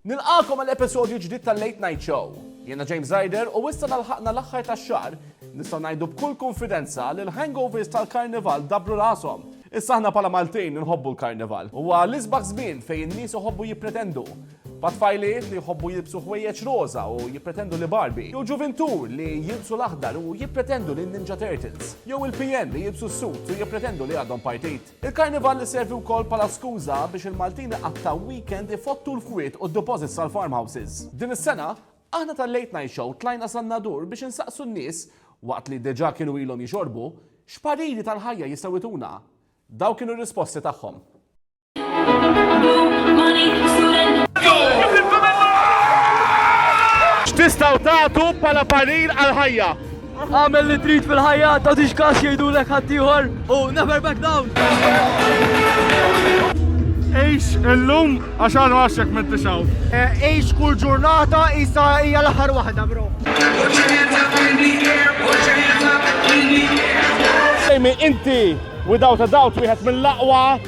Nilqagħkom għal episodju ġdid tal-Late Night Show. Jiena James Ryder u issa l-ħaqna l-aħħar tax-xahar, nistgħu ngħidu b'kull kunfidenza li l-hangovers tal-Karnival dabru rashom. Issa aħna bħala Maltin inħobbu l-Karnival. Huwa l-isbaħ żmien fejn in-nies iħobbu jippretendu. Pa' tfajliet li jħobbu jilbsu ħwejjeġ roża u jippretendu li Barbie, jew ġuvintù li jilbsu l-aħdar u jippretendu li Ninja Turtles, jew il-PN li jilbsu s-sut u jippretendu li għadhom partit. Il-Karnival iservi wkoll bħala skuża biex il-Maltin iqattgħu weekend ifottu l-kwiet u d-deposits tal-farm houses. Din is-sena, aħna tal-Late Night Show tlajna san-Nadur biex insaqsu n-nies, waqt li diġà kienu ilhom jixorbu, x'pariri tal-ħajja jistgħu jtuna. Dawn kienu r-risposti tagħhom. X'tistgħu tagħtu bħala parir għall-ħajja? Għamel li trid fil-ħajja, ta' tix kas jgħidulek ħaddieħor u never back down. Ejx illum għax għal għaxek minn tixaw. Eh, ejx kull ġurnata isa hija l-aħħar waħda, bro. Jamie, inti without a doubt wieħed mill-aqwa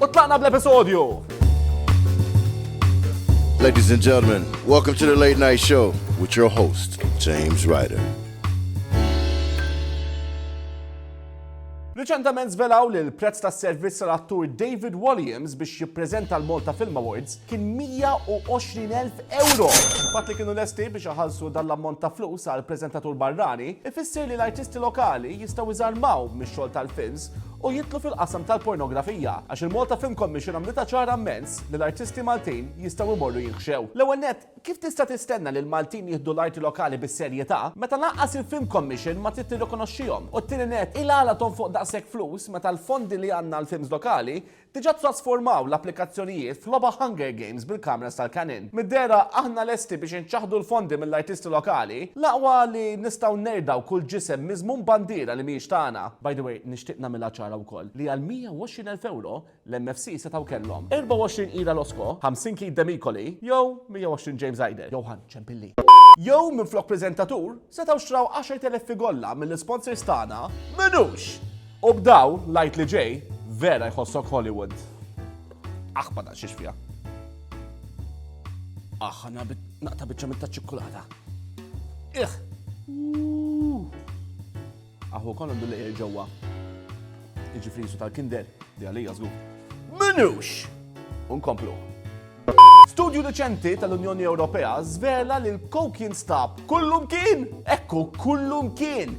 U tlaqna bl-episodju! Ladies and gentlemen, welcome to the Late Night Show with your host, James Ryder. Riċentament zvelaw li l-prezz tas servizz tal-attur David Williams biex jippreżenta l-Malta Film Awards kien 120.000 euro. Fatt li kienu lesti biex iħallsu dan l-ammont ta' flus għal preżentatur barrani, ifisser li l-artisti lokali jistgħu iżarmaw mix-xogħol tal-films u jidħlu fil-qasam tal-pornografija għax il-Malta Film Commission għamlitha ċara mmens li l-artisti Maltin jistgħu jmorru jinħxew. L-ewwel nett, kif tista' tistenna li l-Maltin jieħdu l-arti lokali bis-serjetà meta lanqas il-Film Commission ma trid tirrikonoxxihom? U t-tieni nett, il-għala tonfoq daqshekk flus meta l-fondi li għandna għall-films lokali Diġà ttrasformaw l-applikazzjonijiet f'logħba Hunger Games bil-kameras tal-Canon. Mid-dehra aħna lesti biex inċaħħdu l-fondi mill-artisti lokali. L-aqwa li nistgħu nerdgħu kull ġisem miżmum bandiera li mhijiex tagħna. By the way, nixtieq nagħmilha ċara wkoll li għal 120 elf ewro, l-MFC setgħu kellhom, 24 Ira Losco, 50 Keith Demicoli jew 120 James Ryder jew Ħann Ciampilli. Jew minflok preżentatur, Setgħu xtraw 10,000 figolla mill-isponsors tagħna, m'inux! U b'daw l-Għid li ġej, vera jħossok Hollywood. Aħ ma naqsix fiha. Aħ, għana naqta biċċa mit-taċ-ċikkulata. Ih! Aħu kollu għandu lejjer ġewwa. Iġifri jisu tal-kinder, di għalija żgur. Minux! Unkomplu. Studju deċenti tal-Unjoni Ewropea zvela li l-kok jinstab kullum kien, ekku kullum kien,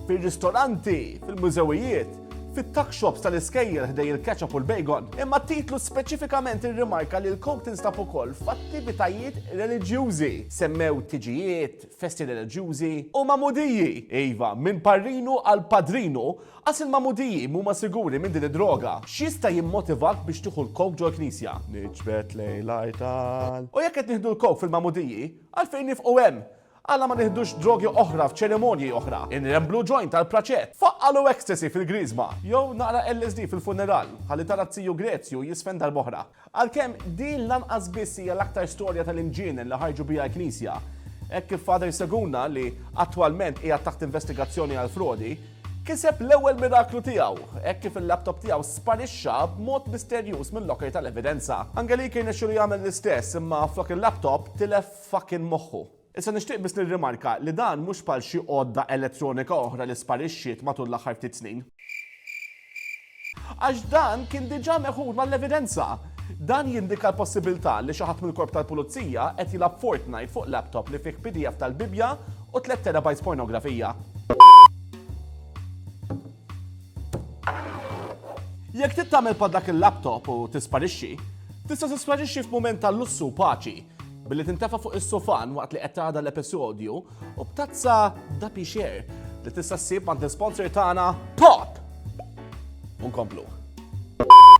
fil-ristoranti, fil-mużewijiet, fit-tuck shops tal-iskejjel ħdej il-ketchup u l-bacon, imma titlu speċifikament irrimarka li l-kok tinstab ukoll f'attivitajiet reliġjużi. Semmew tiġijiet, festi reliġjużi, u magħmudiji, iva, minn parrinu għal padrinu, għax il-magħmudiji mhuma siguri minn din id-droga. X'jista' jimmotivak biex tieħu l-coke ġol-knisja? Niġbed lejn l-artal. U jekk qed nieħdu l-coke fil-magħmudiji, għalfejn nifqu hemm? Għala ma nieħdux drogi oħra f'ċerimonji oħra? Inremblu joint għall-praċett? Faqqalu ecstasy fil-Griżma, jew naqra LSD fil-funeral, ħalli tara t-Tiju Grezju jisfen darb'oħra. Għalkemm din lanqas biss hija l-aktar storja tal-inġienen li ħarġu biha l-Knisja. Hekk kif Father Seguna, li attwalment qiegħed taħt investigazzjoni għal frodi, kiseb l-ewwel miraklu tiegħu hekk kif il-laptop tiegħu sparixxa b'mod misterjuż mil-locker tal-evidenza. Angelique irnexxielu jagħmel l-istess imma flok il-laptop tilef fuckin' moħħu. Issa nixtieq biss nirrimarka li dan mhux bħal xi għodda elettronika oħra li sparixxiet matul l-aħħar ftit snin. Għax dan kien diġà meħud mal-evidenza. Dan jindika l-possibilità li xi ħadd mill-Korp tal-Pulizija qed jilgħab Fortnite fuq laptop li fih pdf tal-Bibbja u tliet terabytes pornografija. Jekk trid tagħmel bħal dak il-laptop u tisparixxi, tista' tisparixxi f'mument tal-lussu u paċi. Billi tintefa' fuq is-sufan waqt li qed tagħda l-episodju u b'tazza da pixer li tista' ssib għand l-sponsor tagħna Pop! Unkomplu.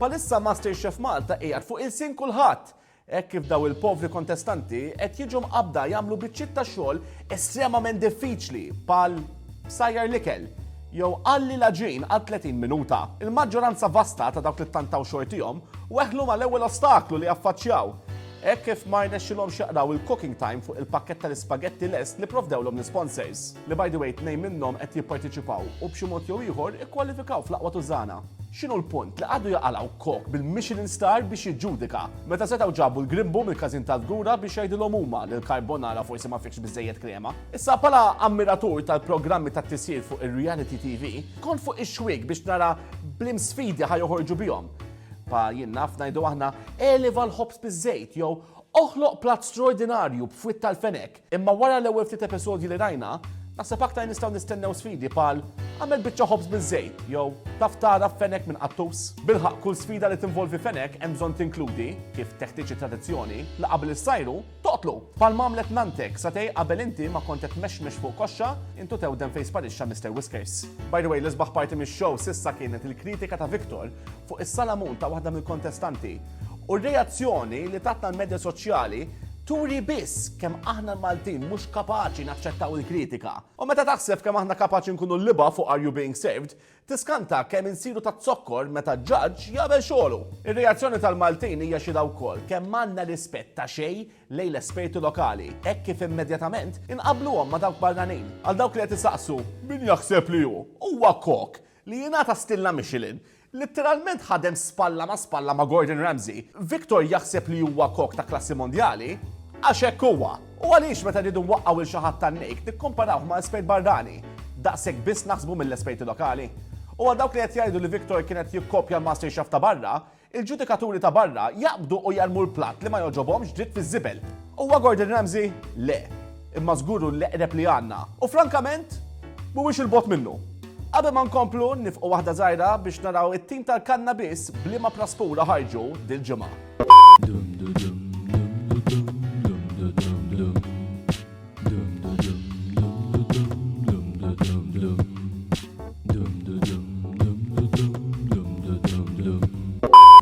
Palissa Master Chef Malta qiegħed fuq il-sin kulħadd hekk kif daw il-povri kontestanti qed jiġu mqabda jagħmlu biċċiet ta' xogħol estremament diffiċli bħal sajjar l-ikel jew qalli l-aġin għal 30 minuta. Il-maġġoranza vasta ta' dawk li tantaw xortihom weħlu mal-ewwel ostaklu li affaċċjaw. Hekk kif ma rnexxilhomx jaqraw il-cooking time fuq il-pakkett tal-ispagetti lest li pprovdewlhom l-isponsors, li by the way tnejn minnhom qed jipparteċipaw u b'xi mod jew ieħor ikkwalifikaw fl-aqwa tużżana. X'inhu l-punt li qagħdu jaqalgħu kok bil-Michelin star biex jiġġudika, meta setgħu ġabu l-grimbu mill-każin tal-fgura biex jgħidilhom huma li l-carbonara forsi ma fihx biżżejjed krema? Issa, bħala ammiratur tal-programmi tat-tisjir fuq ir-reality TV, kont fuq ix-xwiek biex nara b'liemsfidi ħa joħorġu bihom. Pa jien naf ngħidu aħna, eleva l-ħobż biż-żejt jew oħloq platt stroordinarju b'fwied tal-fenek. Imma wara l-ewwel ftit episodji li rajna, naħseb aktar nistgħu nistennew sfidi bħal agħmel biċċa ħobż biż-żejt jew taf tagħraf fenek minn qattus. Bilħaqq kull sfida li tinvolvi fenek hemm bżonn tinkludi, kif teħtieġ it-tradizzjoni, li qabel issajru, Toqtlu! Bħalma għamlet nanttek, satej qabel inti ma kont qed tmexmex fuq koxxa, int u tewdem fejn sparixxa Mister Whiskers. By the way, l-isbaħ parti mix-show s'issa kienet il-kritika ta' Victor fuq is-salamun ta' waħda mill-kontestanti. U r-reazzjoni li tatna l-medja soċjali turi biss kemm aħna l-Maltin mhux kapaċi naċċettaw il-kritika. U meta taħseb kemm aħna kapaċi nkunu l-libgħa fuq Are You Being Served, Tiskanta kemm insiru taz-zokkor meta ġaġġ jagħmel xogħlu! Ir-reazzjoni tal-Maltin hija xhieda wkoll kemm għandna rispett ta' xejn lejn l-esperti lokali, hekk kif immedjatament inqabbluhom ma' dawk barranin. Għal dawk li qed isaqsu min jaħseb li hu, huwa Koch li jingħata stilla Michelin. Litteralment ħadem spalla ma' spalla ma' Gordon Ramsay. Victor jaħseb li huwa Koch ta' klassi mondjali għax hekk huwa. U għaliex meta rridu nwaqqgħu 'l xi ħadd tan-nejk nikkumparawh ma' espert barrani? Daqshekk biss naħsbu mill-esperti lokali? U għal dawk li qed jgħidu li Victor kien qed jikkopja l-masterchef ta' barra, il-ġudikaturi ta' barra jaqbdu u jarmu l-platt li ma jogħġobhomx dritt fiż-żibel. Huwa Gordon Ramsay? Le. Imma żgur hu l-eqreb li għandna. U frankament, mhuwiex 'il bogħod minnu. Qabel ma nkomplu, nifqu waħda żgħira biex naraw it-tim tal-kannabis b'liema praspura ħarġu dil-ġimgħa.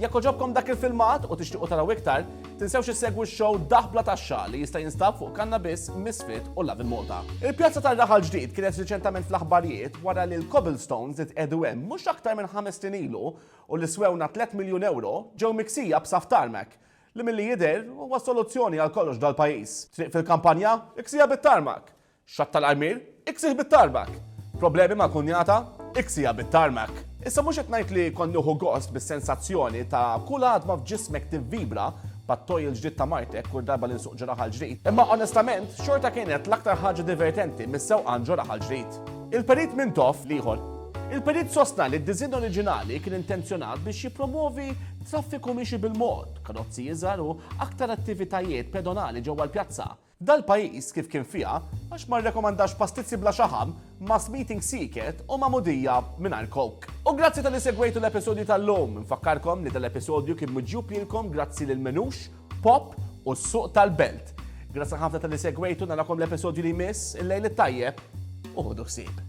Jekk oġobkom dak il-filmat u tixtiqu taraw iktar, tinsewx issegwu x-show Daħbla tax-Xa li jista' jinstab fuq Kanna Biss, Misfit u Love in Malta. Il-pjazza tar-raħal ġdid kienet riċentament fl-aħbarijiet wara li l-cobblestones li tqiegħdu hemm mhux aktar minn ħames snin ilu u li swewna tliet miljun ewro ġew miksija b'saff tarmac li milli jidher huwa s-soluzzjoni għal kollox f'dal-pajjiż. Triq fil-kampanja? Iksiha bit-tarmac! Xatt tal-armier? Iksih bit-tarmac! Problemi mal-kunjata? Iksiha bit-tarmac! Issa mhux qed ngħid li kont nieħu gost bis-sensazzjoni ta' kull għadma f'ġismek tivvibra bħat-toj il-ġdid ta' martek kull darba li nsuq ġraħa l-ġrid, imma onestament xorta kienet l-aktar ħaġa divertenti mis-sewqan ġo raħal ġrid. Il-Perit Mintoff l-ieħor. Il-Perit sostna li d-diżinn oriġinali kien intenzjonat biex jippromwovi traffiku miexi bil-mod, karozzi iżgħar u aktar attivitajiet pedonali ġewwa l-pjazza. Dal-pajjiż kif kien fiha għax ma rrekomandax pastizzi bla xaħam, mass meeting sieket u magħmudija mingħajr coke. U grazzi talli segwejtu l-episodju tal-lum, infakkarkom li dal-episodju kien miġjub lilkom grazzi lil Menux, Pop u s-Suq tal-Belt. Grazzi ħafna talli segwejtu, narakom l-episodju li jmiss, il-lejl it-tajjeb u ħudu ħsieb.